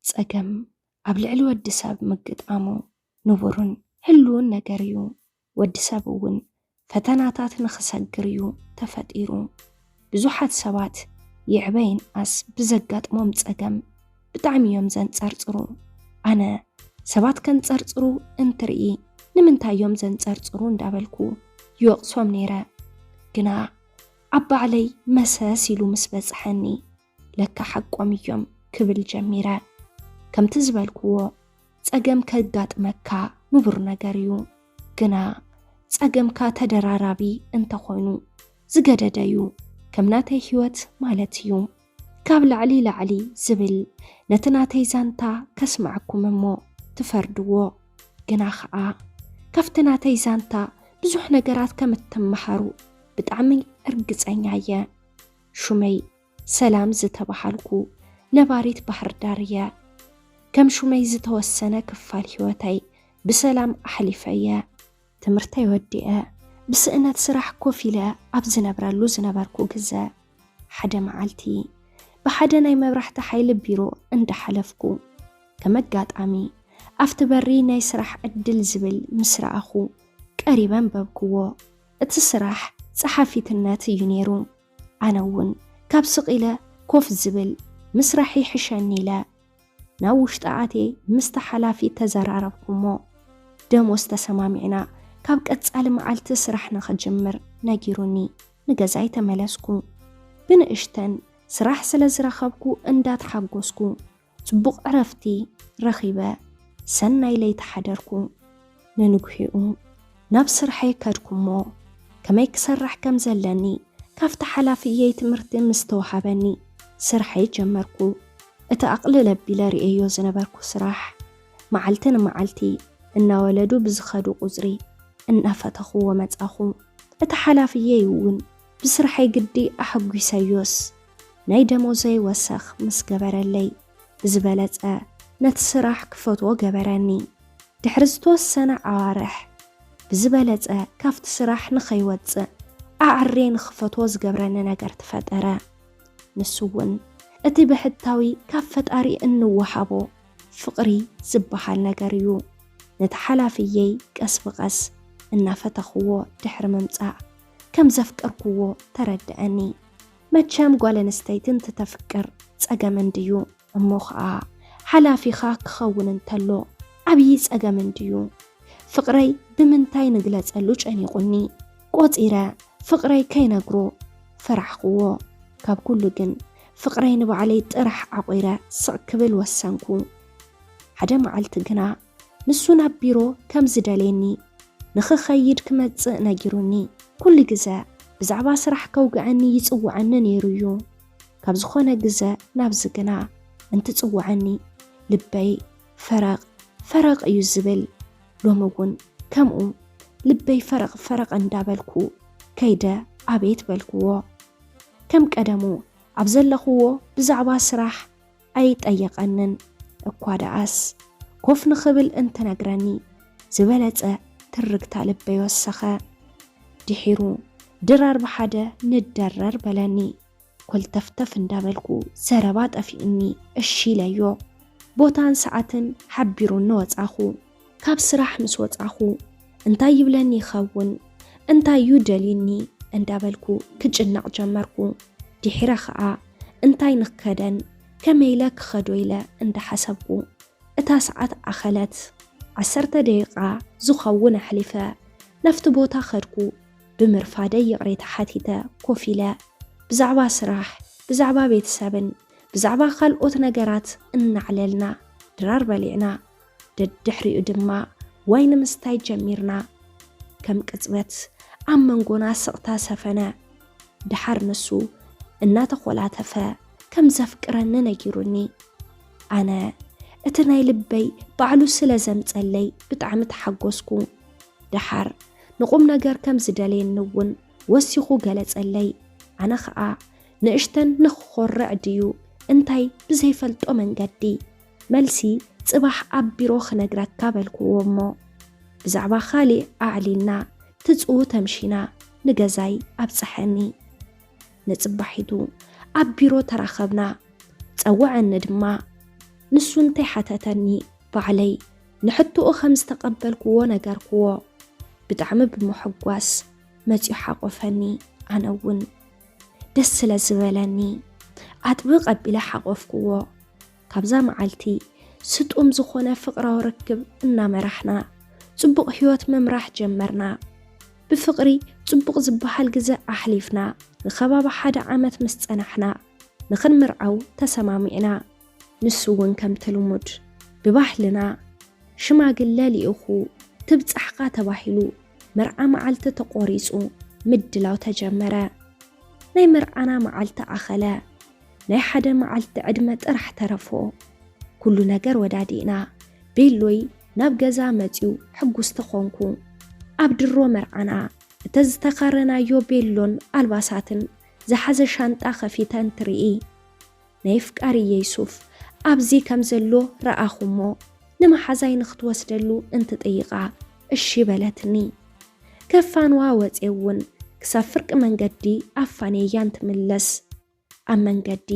ጸገም ኣብ ልዕሊ ወዲ ሰብ ምግጣሙ ንቡርን ህሉውን ነገር እዩ። ወዲ ሰብ እውን ፈተናታት ንኽሰግር እዩ ተፈጢሩ። ብዙሓት ሰባት ይዕበ ይንኣስ ብዘጋጥሞም ጸገም ብጣዕሚ እዮም ዘንጸርጽሩ። ኣነ ሰባት ከንጸርጽሩ እንትርኢ ንምንታይ እዮም ዘንጸርጽሩ እንዳበልኩ ይወቕሶም ነይረ። ግና ኣብ ባዕለይ መሰስ ኢሉ ምስ በጽሐኒ ለካ ሓቆም እዮም ክብል ጀሚረ። ከምቲ ዝበልክዎ ጸገም ከጋጥመካ ንቡር ነገር እዩ። ግና ጸገምካ ተደራራቢ እንተኾይኑ ዝገደደ እዩ፣ ከም ናተይ ህይወት ማለት እዩ። ካብ ላዕሊ ላዕሊ ዝብል ነቲ ናተይ ዛንታ ከስማዕኩም እሞ ትፈርድዎ። ግና ከዓ ካብቲ ናተይ ዛንታ ብዙሕ ነገራት ከም እትመሃሩ ብጣዕሚ እርግጸኛ እየ። ሹመይ ሰላም ዝተባሃልኩ ነባሪት ባህርዳር እየ። ከም ሹመይ ዝተወሰነ ክፋል ህይወተይ ብሰላም ኣሕሊፈ እየ። ትምህርተይ ወዲኤ ብስእነት ስራሕ ኮፍ ኢለ ኣብ ዝነብረሉ ዝነበርኩ ግዘ ሓደ መዓልቲ ብሓደ ናይ መብራህቲ ሓይሊ ቢሮ እንዳሓለፍኩ ከም ኣጋጣሚ ኣብቲ በሪ ናይ ስራሕ ዕድል ዝብል ምስ ረኣኹ ቀሪበ ኣንበብክዎ። እቲ ስራሕ ጸሓፊትነት እዩ ነይሩ። ኣነ እውን ካብ ስቕ ኢለ ኮፍ ዝብል ምስራሕ ይሕሸኒ ኢለ ናብ ውሽጢ ኣትየ ምስታ ሓላፊት ተዘራረብኩ እሞ ደሞዝ ተሰማሚዕና ካብ ቀጻሊ መዓልቲ ስራሕ ንኽጅምር ነጊሩኒ ንገዛይ ተመለስኩ። ብንእሽተን ስራሕ ስለ ዝረኸብኩ እንዳተሓጎስኩ ጽቡቕ ዕረፍቲ ረኺበ ሰናይ ለይቲ ሓደርኩ። ንንግሂኡ ናብ ስርሐይ ከድኩ'ሞ ከመይ ክሰርሕ ከም ዘለኒ ካብቲ ሓላፊየይ ትምህርቲ ምስ ተወሃበኒ ስርሐይ ጀመርኩ። እቲ ኣቕልል ኣቢለ ርእየዮ ዝነበርኩ ስራሕ መዓልቲ ንመዓልቲ እናወለዱ ብዝኸዱ ቁጽሪ እናፈተኹዎ መጻኹ። እቲ ሓላፊየይ'ውን ብስርሐይ ግዲ ኣሐጒሰዮስ ናይ ደሞዘይ ወሰኽ ምስ ገበረለይ፣ ብዝበለጸ ነቲ ስራሕ ክፈትዎ ገበረኒ። ድሕሪ ዝተወሰነ ኣዋርሕ፣ ብዝበለጸ ካብቲ ስራሕ ንኸይወጽእ ኣዐርየ ንኽፈትዎ ዝገብረኒ ነገር ተፈጠረ። ንሱ እውን እቲ ብሕታዊ ካብ ፈጣሪ እንወሃቦ ፍቕሪ ዝበሃል ነገር እዩ። ነቲ ሓላፍየይ ቀስ ብቐስ እናፈተኽዎ ድሕሪ ምምጻእ ከም ዘፍቀርክዎ ተረደኣኒ። መቸም ጓል ኣንስተይቲ እንትተፍቅር ጸገም እንድዩ እሞ ኸኣ ሓላፊኻ ክኸውን እንተሎ ዓብዪ ጸገም እንድዩ። ፍቕረይ ብምንታይ ንግለጸሉ ጨኒቑኒ ቆጺረ ፍቕረይ ከይነግሮ ፈራሕኩዎ። ካብ ኩሉ ግን ፍቕረይ ንባዕለይ ጥራሕ ዓቝረ ስቕ ክብል ወሰንኩ። ሓደ መዓልቲ ግና ንሱ ናብ ቢሮ ከም ዝደልየኒ ንኽኸይድ ክመጽእ ነጊሩኒ። ኩሉ ግዘ ብዛዕባ ስራሕ ከውግዐኒ ይጽውዐኒ ነይሩ እዩ። ካብ ዝኾነ ግዘ ናብዚ ግና እንትጽውዐኒ ልበይ ፈረቕ ፈረቕ እዩ ዝብል። ሎሚ እውን ከምኡ ልበይ ፈረቕ ፈረቕ እንዳበልኩ ከይደ ኣቤት በልክዎ። ከም ቀደሙ ኣብ ዘለኽዎ ብዛዕባ ስራሕ ኣይጠየቐንን እኳ ደኣስ ኮፍ ንኽብል እንትነግረኒ ዝበለጸ ትርግታ ልበይ ወሰኸ። ድሒሩ ድራር ብሓደ ንደረር በለኒ። ኮልተፍተፍ እንዳበልኩ ዘረባ ጠፊኡኒ እሺ ኢለዮ። ቦታን ሰዓትን ሓቢሩኒ ወጻኹ። ካብ ስራሕ ምስ ወጻኹ እንታይ ይብለኒ ይኸውን እንታይ እዩ ደልዩኒ እንዳበልኩ ክጭነቕ ጀመርኩ። ድሒረ ኸኣ እንታይ ንክከደን ከመይ ኢለ ክኸዶ ኢለ እንዳሓሰብኩ እታ ሰዓት ኣኸለት። ዓሰርተ ደቂቃ ዝኸውን ኣሕሊፈ ናፍቲ ቦታ ከድኩ። ብምርፋደይ ይቕሬታ ሓቲተ ኮፍ ኢለ ብዛዕባ ስራሕ፣ ብዛዕባ ቤተሰብን ብዛዕባ ካልኦት ነገራት እናዕለልና ድራር በሊዕና ደድሕሪኡ ድማ ዋይን ምስታይ ጀሚርና ከም ቅጽበት ኣብ መንጎና ስቕታ ሰፈነ ድሓር ንሱ እናተኾላተፈ ከም ዘፍቅረኒ ነጊሩኒ ኣነ እቲ ናይ ልበይ ባዕሉ ስለ ዘምጸለይ ብጣዕሚ ተሓጎስኩ ድሓር ንቑም ነገር ከም ዝደልየኒ እውን ወሲኹ ገለጸለይ ኣነ ኸኣ ንእሽተን ንኽኾርዕ ድዩ እንታይ ብዘይፈልጦ መንገዲ መልሲ፣ ጽባሕ ኣብ ቢሮ ክነግረካ በልኩዎ እሞ ብዛዕባ ካሊእ ኣዕሊልና ትጽኡ ተምሺና ንገዛይ ኣብጸሐኒ። ንጽባሒቱ ኣብ ቢሮ ተራኸብና ጸወዐኒ ድማ ንሱ እንተይሓተተኒ ባዕለይ ንሕቶኡ ከም ዝተቐበልኩዎ ነገርኩዎ። ብጣዕሚ ብምሕጓስ መጺኡ ሓቆፈኒ ኣነ እውን ደስ ስለ ዝበለኒ ኣጥብቅ ኣቢለ ሓቆፍኩዎ። ካብዛ መዓልቲ ስጡም ዝኾነ ፍቕራዊ ርክብ እናመራሕና ጽቡቕ ህይወት ምምራሕ ጀመርና። ብፍቕሪ ጽቡቕ ዝበሃል ግዘ ኣሕሊፍና ንከባቢ ሓደ ዓመት ምስ ጸናሕና ንኽንምርዓው ተሰማሚዕና። ንሱ እውን ከምቲ ልሙድ ብባህልና ሽማግለ ልኢኹ ትብጻሕካ ተባሂሉ መርዓ መዓልቲ ተቖሪጹ ምድላው ተጀመረ። ናይ መርዓና መዓልቲ ኣኸለ። ናይ ሓደ መዓልቲ ዕድመ ጥራሕ ተረፎ። ኩሉ ነገር ወዳዲእና። ቤሎይ ናብ ገዛ መጺኡ ሕጉስ ተኾንኩ። ኣብ ድሮ መርዓና እተዝተኻረናዮ ቤሎን ኣልባሳትን ዝሓዘ ሻንጣ ከፊተ እንትርኢ ናይ ፍቃርየይ ሱፍ ኣብዚ ከም ዘሎ ረኣኹሞ ንመሓዛይ ንክትወስደሉ እንትጥይቓ እሺ በለትኒ። ከፋንዋ ወጼ እውን ክሳብ ፍርቂ መንገዲ ኣፋንየያ እንትምለስ ኣብ መንገዲ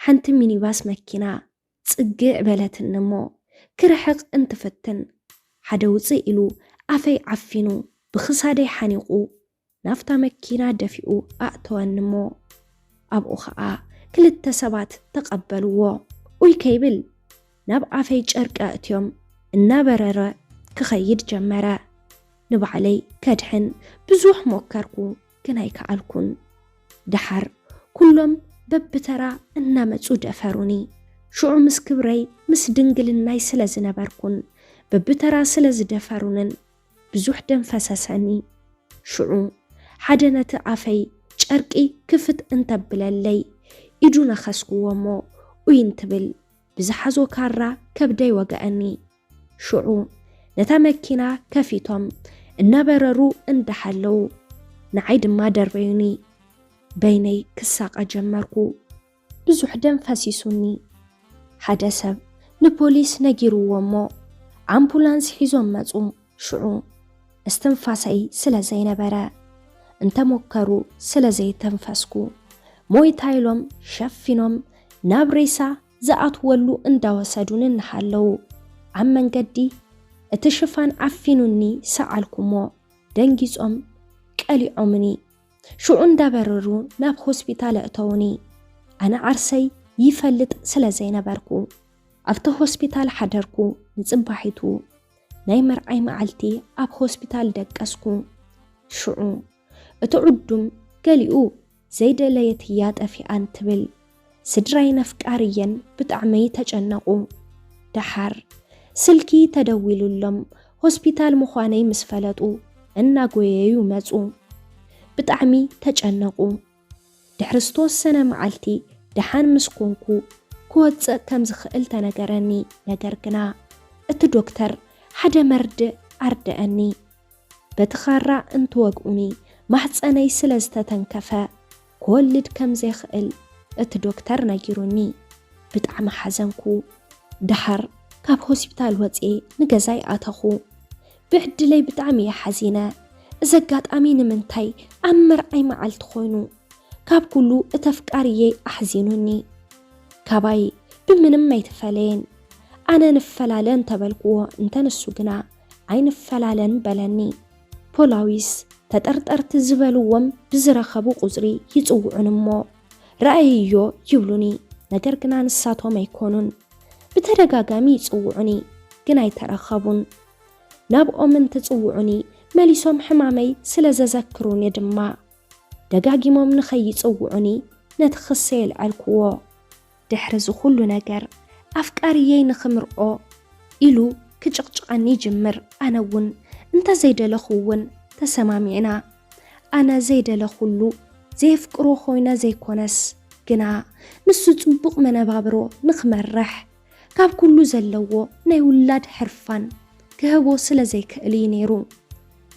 ሓንቲ ሚኒባስ መኪና ጽግዕ በለትኒ እሞ ክርሕቕ እንትፍትን ሓደ ውጽእ ኢሉ ኣፈይ ዓፊኑ ብኽሳደይ ሓኒቑ ናብታ መኪና ደፊኡ ኣእተወኒ እሞ ኣብኡ ኸኣ ክልተ ሰባት ተቐበልዎ ኡይ ከይብል ናብ ኣፈይ ጨርቂ ኣእትዮም እናበረረ ክኸይድ ጀመረ። ንባዕለይ ከድሕን ብዙሕ ሞከርኩ። ግን ኣይከኣልኩን። ደሓር ኩሎም በብተራ እናመጹ ደፈሩኒ። ሽዑ ምስ ክብረይ ምስ ድንግልናይ ስለ ዝነበርኩን በብተራ ስለ ዝደፈሩንን ብዙሕ ደም ፈሰሰኒ። ሽዑ ሓደ ነቲ ኣፈይ ጨርቂ ክፍት እንተብለለይ ኢዱ ነኸስኩዎ እሞ ኡይ እንትብል ብዝሓዞ ካራ ከብደይ ወገኣኒ። ሽዑ ነታ መኪና ከፊቶም እናበረሩ እንዳሓለዉ ንዓይ ድማ ደርበዩኒ። በይነይ ክሳቐ ጀመርኩ። ብዙሕ ደም ፈሲሱኒ። ሓደ ሰብ ንፖሊስ ነጊርዎ እሞ ኣምቡላንስ ሒዞም መጹ። ሽዑ እስትንፋሰይ ስለ ዘይነበረ እንተሞከሩ ስለ ዘይተንፈስኩ ሞይታ ኢሎም ሸፊኖም ናብ ሬሳ ዝኣትወሉ እንዳወሰዱኒ እናሃለዉ ኣብ መንገዲ እቲ ሽፋን ዓፊኑኒ ሰኣልኩ'ሞ ደንጊጾም ቀሊዖምኒ ሽዑ እንዳበረሩ ናብ ሆስፒታል ኣእተዉኒ። ኣነ ዓርሰይ ይፈልጥ ስለ ዘይነበርኩ ኣብቲ ሆስፒታል ሓደርኩ ንጽባሒቱ ናይ መርዓይ መዓልቲ ኣብ ሆስፒታል ደቀስኩ ሽዑ እቲ ዑዱም ገሊኡ ዘይደለየት እያ ጠፊኣ እንትብል ስድራይ ነፍቃር እየን ብጣዕመይ ተጨነቁ ደሓር ስልኪ ተደዊሉሎም ሆስፒታል ምዃነይ ምስ ፈለጡ እናጎየዩ መፁ ብጣዕሚ ተጨነቁ ድሕሪ ዝተወሰነ መዓልቲ ደሓን ምስ ኮንኩ ክወፅእ ከም ዝኽእል ተነገረኒ ነገር ግና እቲ ዶክተር ሓደ መርድእ ኣርደአኒ በቲ ኻራ እንትወግኡኒ ማህፀነይ ስለ ዝተተንከፈ ክወልድ ከም ዘይኽእል እቲ ዶክተር ነጊሩኒ ብጣዕሚ ሓዘንኩ። ደሓር ካብ ሆስፒታል ወፅየ ንገዛይ ኣተኹ። ብዕድለይ ብጣዕሚ እየ ሓዚነ። እዚ ኣጋጣሚ ንምንታይ ኣብ መርዓይ መዓልቲ ኮይኑ? ካብ ኩሉ እቲ ኣፍቃሪየይ ኣሕዚኑኒ። ካባይ ብምንም ኣይተፈለየን። ኣነ ንፈላለ እንተበልክዎ እንተ ንሱ ግና ኣይንፈላለን በለኒ። ፖላዊስ ተጠርጠርቲ ዝበልዎም ብዝረኸቡ ቁጽሪ ይጽውዑኒ እሞ ረኣይዮ ይብሉኒ ነገር ግና ንሳቶም ኣይኮኑን። ብተደጋጋሚ ይጽውዑኒ ግን ኣይተረኸቡን። ናብኦም እንትጽውዑኒ መሊሶም ሕማመይ ስለ ዘዘክሩኒ ድማ ደጋጊሞም ንኸይጽውዑኒ ነቲ ክሰ የልዐልክዎ። ድሕሪ እዚ ኩሉ ነገር ኣፍቃሪየይ ንክምርዖ ኢሉ ክጭቕጭቐኒ ይጅምር ኣነ እውን እንተዘይደለኹ እውን ተሰማሚዕና ኣነ ዘይደለኹሉ ዘየፍቅሮ ኮይነ ዘይኮነስ ግና ንሱ ፅቡቕ መነባብሮ ንክመርሕ ካብ ኩሉ ዘለዎ ናይ ውላድ ሕርፋን ክህቦ ስለ ዘይክእል እዩ ነይሩ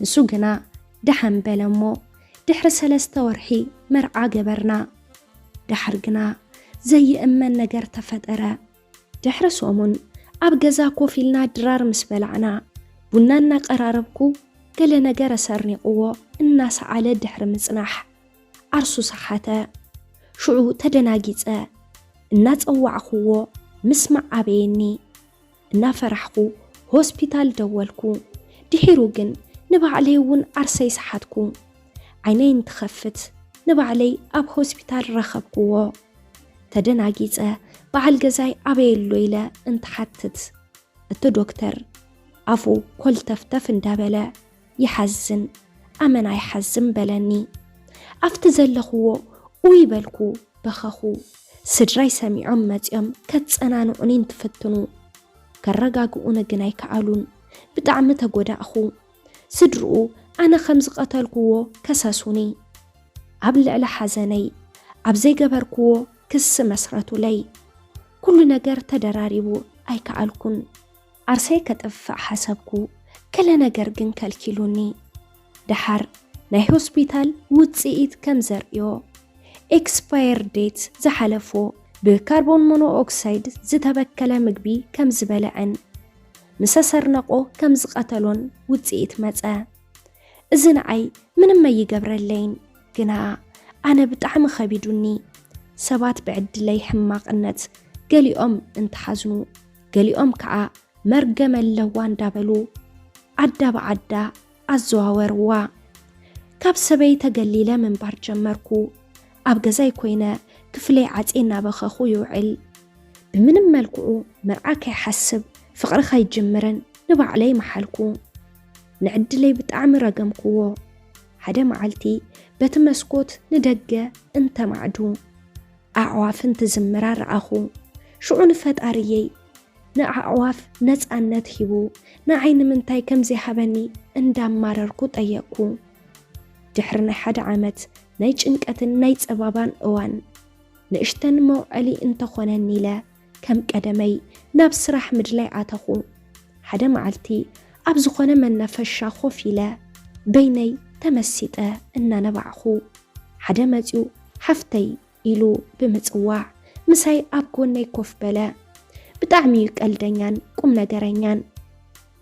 ንሱ ግና ደሓን በለ እሞ ድሕሪ ሰለስተ ወርሒ መርዓ ገበርና። ዳሕር ግና ዘይእመን ነገር ተፈጠረ። ድሕሪ ሰሙን ኣብ ገዛ ኮፍ ኢልና ድራር ምስ በላዕና ቡና እናቀራረብኩ ገለ ነገር ኣሰርኒቕዎ እናሰዓለ ድሕሪ ምጽናሕ ዓርሱ ሰሓተ። ሽዑ ተደናጊጸ እናጸዋዕኽዎ ምስማዕ ኣበየኒ። እናፈራሕኩ ሆስፒታል ደወልኩ። ድሒሩ ግን ንባዕለይ እውን ዓርሰይ ሰሓትኩ። ዓይነይ እንትኸፍት ንባዕለይ ኣብ ሆስፒታል ረኸብኩዎ። ተደናጊፀ በዓል ገዛይ ኣበይ ኣሎ ኢለ እንትሓትት እቲ ዶክተር ኣፉ ኮልተፍተፍ እንዳበለ ይሓዝን ኣመና ይሓዝን በለኒ ኣፍቲ ዘለኽዎ ኡይ በልኩ በኸኹ ስድራይ ሰሚዖም መጺኦም ከጸናንዑኒ እንትፍትኑ ከረጋግኡኒ ግን ኣይከኣሉን ብጣዕሚ ተጎዳእኹ ስድርኡ ኣነ ከም ዝቐተልክዎ ከሰሱኒ ኣብ ልዕሊ ሓዘነይ ኣብ ዘይገበርክዎ ክሲ መስረቱለይ ኩሉ ነገር ተደራሪቡ ኣይከኣልኩን ዓርሰይ ከጥፍእ ሓሰብኩ፣ ገለ ነገር ግን ከልኪሉኒ። ደሓር ናይ ሆስፒታል ውጽኢት ከም ዘርእዮ፣ ኤክስፓየር ዴት ዝሓለፎ ብካርቦን ሞኖኦክሳይድ ዝተበከለ ምግቢ ከም ዝበልዐን ምሰ ሰርነቆ ከም ዝቐተሎን ውጽኢት መጸ። እዚ ንዓይ ምንም ኣይገብረለይን፣ ግና ኣነ ብጣዕሚ ከቢዱኒ። ሰባት ብዕድለይ ሕማቕነት ገሊኦም እንተሓዝኑ፣ ገሊኦም ከዓ መርገም ኣለዋ እንዳበሉ ዓዳ ብዓዳ ኣዘዋወርዋ። ካብ ሰበይ ተገሊለ ምንባር ጀመርኩ። ኣብ ገዛይ ኮይነ ክፍለይ ዓፄ እናበኸኹ ይውዕል። ብምንም መልክዑ መርዓ ከይሓስብ ፍቕሪ ከይጅምርን ንባዕለይ መሓልኩ። ንዕድለይ ብጣዕሚ ረገምኩዎ። ሓደ መዓልቲ በቲ መስኮት ንደገ እንተማዕዱ ኣዕዋፍን ትዝምራ ረኣኹ። ሽዑ ንፈጣሪየይ ንኣዕዋፍ ነጻነት ሂቡ ንዓይ ንምንታይ ከም ዘይሃበኒ እንዳማረርኩ ጠየቅኩ። ድሕሪ ናይ ሓደ ዓመት ናይ ጭንቀትን ናይ ጸባባን እዋን ንእሽተን መውዐሊ እንተኾነኒ ኢለ ከም ቀደመይ ናብ ስራሕ ምድላይ ኣተኹ። ሓደ መዓልቲ ኣብ ዝኾነ መናፈሻ ኮፍ ኢለ በይነይ ተመሲጠ እናነባዕኹ ሓደ መፂኡ ሓፍተይ ኢሉ ብምፅዋዕ ምሳይ ኣብ ጎነይ ኮፍ በለ። ብጣዕሚ እዩ ቀልደኛን ቁም ነገረኛን።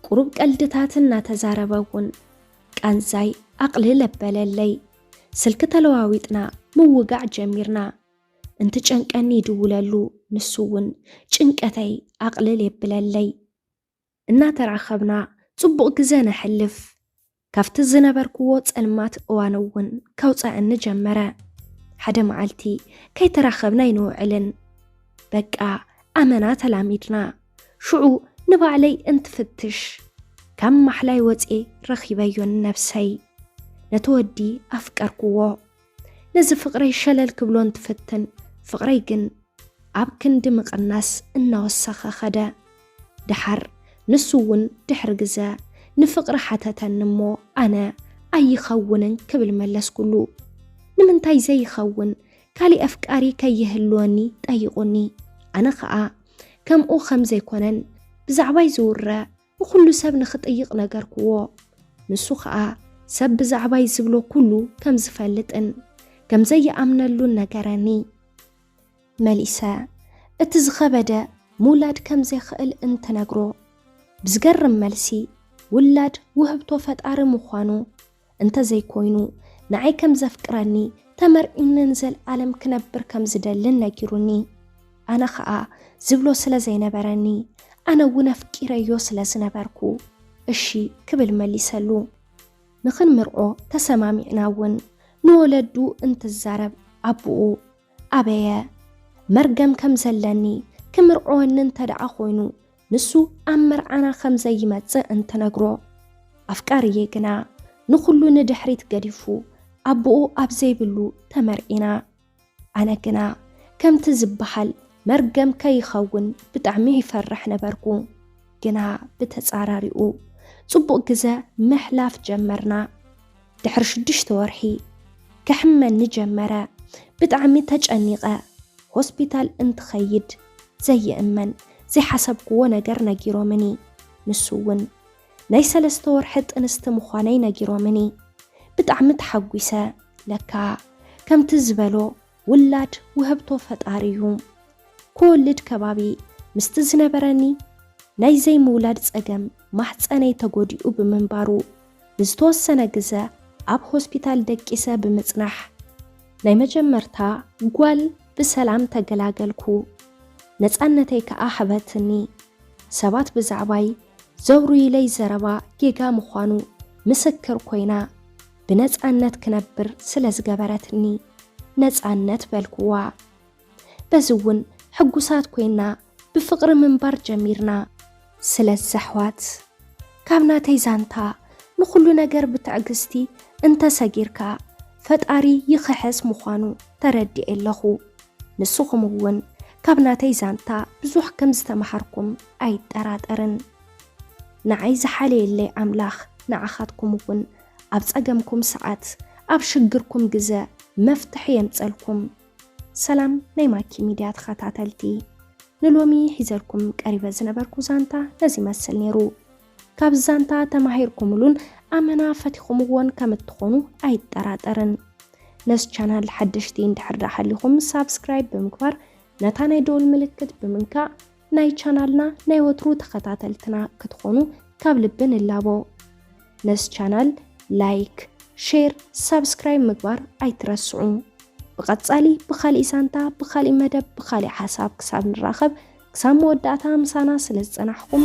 ቁሩብ ቀልድታት እናተዛረበ እውን ቃንዛይ ኣቕልል ኣበለለይ። ስልኪ ተለዋዊጥና ምውጋዕ ጀሚርና። እንትጨንቀኒ ይድውለሉ፣ ንሱ እውን ጭንቀተይ ኣቕልል የብለለይ። እናተራኸብና ጽቡቕ ግዘ ነሕልፍ። ካብቲ ዝነበርክዎ ጸልማት እዋን እውን ከውፀኣኒ ጀመረ። ሓደ መዓልቲ ከይተራኸብና ኣይንውዕልን። በቃ ኣመና ተላሚድና። ሽዑ ንባዕለይ እንትፍትሽ ካብ ማሕላይ ወፅኤ ረኺበዮ ንነብሰይ። ነቲ ወዲ ኣፍቀርክዎ። ነዚ ፍቕረይ ሸለል ክብሎ እንትፍትን ፍቕረይ ግን ኣብ ክንዲ ምቕናስ እናወሰኸ ከደ። ደሓር ንሱ እውን ድሕሪ ግዘ ንፍቕሪ ሓተተኒ እሞ ኣነ ኣይኸውንን ክብል መለስኩሉ። ንምንታይ ዘይኸውን ካሊእ ኣፍቃሪ ከይህልወኒ ጠይቑኒ። ኣነ ከዓ ከምኡ ከምዘይኮነን ብዛዕባይ ዝውረ ንኹሉ ሰብ ንኽጥይቕ ነገርክዎ። ንሱ ኸኣ ሰብ ብዛዕባይ ዝብሎ ኩሉ ከም ዝፈልጥን ከም ዘይኣምነሉን ነገረኒ። መሊሰ እቲ ዝኸበደ ምውላድ ከም ዘይክእል እንትነግሮ ብዝገርም መልሲ ውላድ ውህብቶ ፈጣሪ ምዃኑ እንተዘይኮይኑ ንዓይ ከም ዘፍቅረኒ ተመርዒኒ ንዘልኣለም ክነብር ከም ዝደልን ነጊሩኒ ኣነ ኸኣ ዝብሎ ስለ ዘይነበረኒ ኣነ እውን ኣፍቂረዮ ስለ ዝነበርኩ እሺ ክብል መሊሰሉ ንኽንምርዖ ተሰማሚዕና እውን ንወለዱ እንትዛረብ ኣቦኡ ኣበየ መርገም ከም ዘለኒ ክምርዖወኒ እንተደኣ ኮይኑ ንሱ ኣብ መርዓና ከም ዘይመጽእ እንትነግሮ፣ ኣፍቃሪየይ ግና ንኹሉ ንድሕሪት ገዲፉ ኣቦኡ ኣብ ዘይብሉ ተመርዒና። ኣነ ግና ከምቲ ዝበሃል መርገም ከይኸውን ብጣዕሚ ይፈርሕ ነበርኩ። ግና ብተጻራሪኡ ጽቡቕ ግዘ ምሕላፍ ጀመርና። ድሕሪ ሽዱሽተ ወርሒ ክሕመኒ ጀመረ ብጣዕሚ ተጨኒቀ ሆስፒታል እንትኸይድ ዘይእመን ዘይሓሰብክዎ ነገር ነጊሮምኒ ንሱ እውን ናይ ሰለስተ ወርሒ ጥንስቲ ምዃነይ ነጊሮምኒ ብጣዕሚ ተሓጒሰ ለካ ከምቲ ዝበሎ ውላድ ውህብቶ ፈጣሪ እዩ። ክወልድ ከባቢ ምስቲ ዝነበረኒ ናይ ዘይምውላድ ጸገም ማህጸነይ ተጎዲኡ ብምንባሩ ንዝተወሰነ ግዘ ኣብ ሆስፒታል ደቂሰ ብምጽናሕ ናይ መጀመርታ ጓል ብሰላም ተገላገልኩ። ነጻነተይ ከኣ ሀበትኒ። ሰባት ብዛዕባይ ዘውርዩለይ ዘረባ ጌጋ ምዃኑ ምስክር ኮይና። ብነፃነት ክነብር ስለ ዝገበረትኒ ነፃነት በልኩዋ። በዚ እውን ሕጉሳት ኮይና ብፍቕሪ ምንባር ጀሚርና። ስለዚ ኣሕዋት ካብ ናተይ ዛንታ ንኹሉ ነገር ብትዕግስቲ እንተሰጊርካ ፈጣሪ ይኽሕስ ምዃኑ ተረዲኤ ኣለኹ። ንስኹም እውን ካብ ናተይ ዛንታ ብዙሕ ከም ዝተምሃርኩም ኣይጠራጠርን። ንዓይ ዝሓለየለይ ኣምላኽ ንዓኻትኩም እውን ኣብ ጸገምኩም ሰዓት ኣብ ሽግርኩም ግዘ መፍትሒ የምጸልኩም። ሰላም ናይ ማኪ ሚድያ ተኸታተልቲ፣ ንሎሚ ሒዘልኩም ቀሪበ ዝነበርኩ ዛንታ ነዚ ይመስል ነይሩ። ካብ ዛንታ ተማሂርኩምሉን ኣመና ፈቲኹምዎን ከም እትኾኑ ኣይጠራጠርን። ነዚ ቻናል ሓደሽቲ እንድሕር ደኣ ሃሊኹም ሳብስክራይብ ብምግባር ነታ ናይ ደወል ምልክት ብምንካእ ናይ ቻናልና ናይ ወትሩ ተኸታተልትና ክትኾኑ ካብ ልቢ ንላቦ። ነዝ ቻናል ላይክ፣ ሼር፣ ሳብስክራይብ ምግባር ኣይትረስዑ። ብቐጻሊ ብኻሊእ ዛንታ፣ ብኻሊእ መደብ፣ ብኻሊእ ሓሳብ ክሳብ ንራኸብ ክሳብ መወዳእታ ምሳና ስለ ዝጸናሕኩም